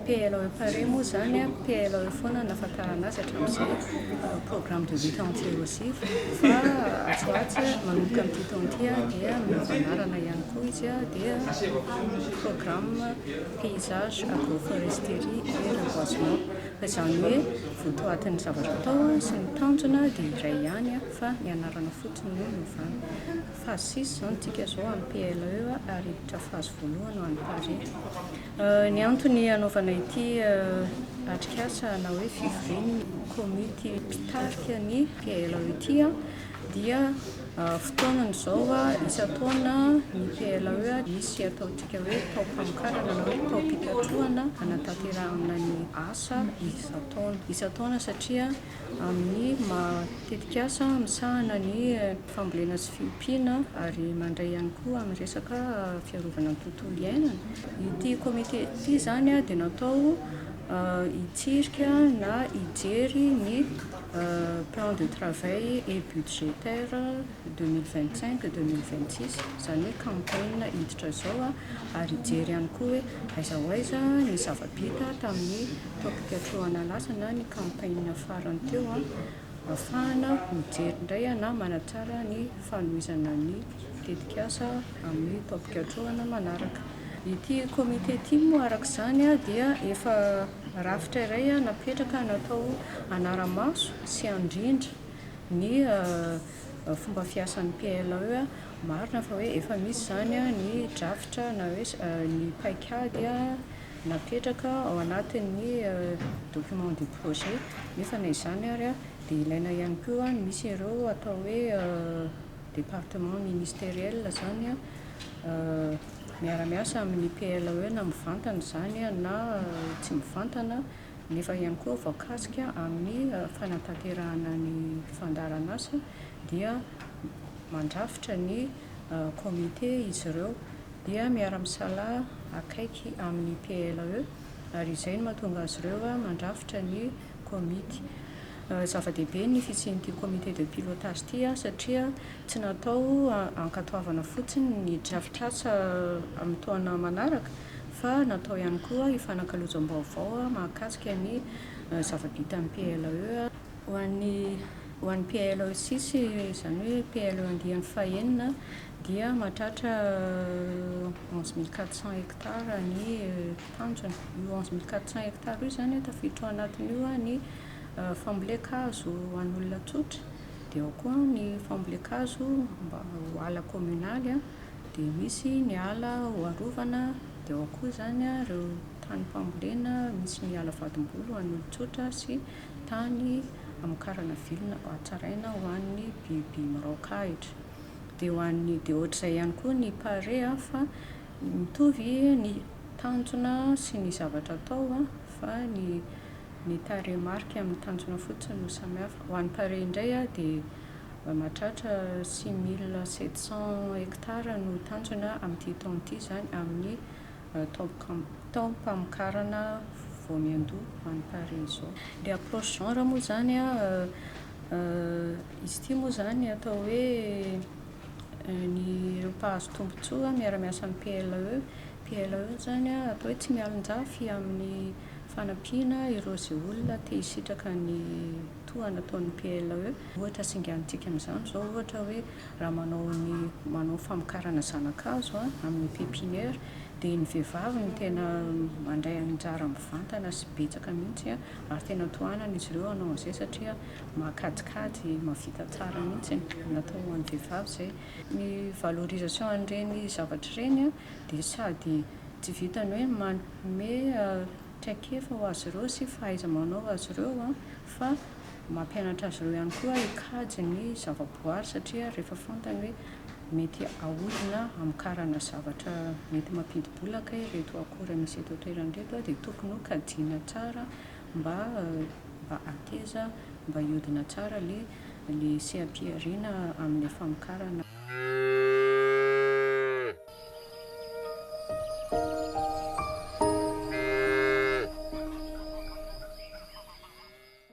PLOE pare moa izany a, PLOE foana no nahafantarana azy hatramin'izao, euh, programme de lutte anti-érosive, fa atsy ho atsy manomboka amin'ity taona ity a, dia miova anarana ihany koa izy a, dia programme paysage agroforesterie et reboisement. Ka izany hoe votoatin'ny zavatra atao sy ny tanjona dia iray ihany fa ny anarana fotsiny no miovana. Phase six izao ny tsika izao amin'ny PLE ary hiditra phase voalohany ho an'ny Paris. Ny antony hanaovana ity atrikasa na hoe fivorian'ny komity mpitarika ny PLE ity an! dia fotoanany izao isan-taona ny PLAE misy ataontsika hoe taom-pamokarana na hoe taom-pikatrohana hanatanterahana ny asa isan-taona isan-taona satria amin'ny maha tetikasa misahana ny fambolena sy fiompiana ary mandray ihany koa amin'ny resaka fiarovana ny tontolo iainana. Ity komite ity izany dia natao hitsirika na hijery ny plan de travail et budgétaire deux mille vingt cinq deux mille vingt six izany hoe campagne hiditra izao ary hijery ihany koa hoe aiza ho aiza ny zava-bita tamin'ny taom-pikatrohana lasa na ny campagne farany teo ahafahana mijery indray na manatsara ny fanohizana ny tetikasa amin'ny taom-pikatrohana manaraka. Ity comité ity moa araka izany dia efa Rafitra iray napetraka natao hanara-maso sy handrindra ny fomba fiasan'ny PLAE. Marina fa hoe efa misy izany ny drafitra na hoe ny paikady napetraka ao anatin'ny document du projet nefa na izany ary dia ilaina ihany koa ny misy ireo atao hoe département ministériel izany miara-miasa amin'ny PLAE na mivantana izany na tsy mivantana nefa ihany koa voakasika amin'ny fanatanterahana ny fandaharan'asa dia mandrafitra ny comité izy ireo dia miara-misalahy akaiky amin'ny PLAE ary izay no mahatonga azy ireo mandrafitra ny Komity. Zava-dehibe ny fisian'ity Comité de pilotage ity satria tsy natao hankatoavana fotsiny ny drafitr'asa amin'ny taona manaraka fa natao ihany koa hifanakalozam-baovao mahakasika ny zava-bitan'ny PLE ho an'ny ho an'ny PLE sisy, izany hoe PLE andiany fahenina dia mahatratra onze mille quatre cents hectares ny tanjona. Io onze mille quatre cents hectares io izany tafiditra ao anatiny io ny fambolen-kazo an'olona tsotra, dia ao koa ny fambolen-kazo mba ho ala kominaly, dia misy ny ala ho arovana, dia ao koa izany ireo tanim-pambolena, misy ny ala vadim-boly ho an'olon-tsotra sy tany hamokarana vilona mba hatsaraina ho an'ny biby miraoka ahitra. Dia ho an'ny, dia ohatr'izay ihany koa ny pare fa Mitovy ny tanjona sy ny zavatra atao fa ny ny tarehimarika amin'ny tanjona fotsiny no samihafa. Ho an'ny tarehy indray dia mahatratra six mille sept cents hectares no tanjona amin'ity taona ity izany amin'ny taom-kam- taom-pamokarana voamiandoha ho an'ny tarehy izao. Ilay approche genre moa izany an, izy ity moa izany atao hoe Ny ireo mpahazo tombontsoa miara-miasa amin'ny PLAE, PLAE izany atao hoe tsy mialonjafy amin'ny fanampiana ireo izay olona te hisitraka ny toa nataon'ny PLAE. Ohatra singanintsika amin'izany izao ohatra hoe raha manao ny manao famokarana zana-kazo amin'ny pepiniera dia ny vehivavy no tena mandray anjara mivantana sy betsaka mihintsy ary tena tohanan'izy ireo hanao an'izay satria Mahakajikajy, mahavita tsara mihitsy e! Natao ho an'ny vehivavy izay. Ny valorisation an'ireny zavatra ireny dia sady tsy vitan'ny hoe manome traikefa ho azy ireo sy fahaiza-manao ho azy ireo fa mampianatra azy ireo ihany koa hikajy ny zavaboary satria rehefa fantany hoe mety ahodina hamokarana zavatra mety mampidi-bola kay ireto akora misy eto an-toerana ireto dia tokony ho kajiana tsara Mba mba ateza mba hiodina tsara le le seha-pihariana amle famokarana.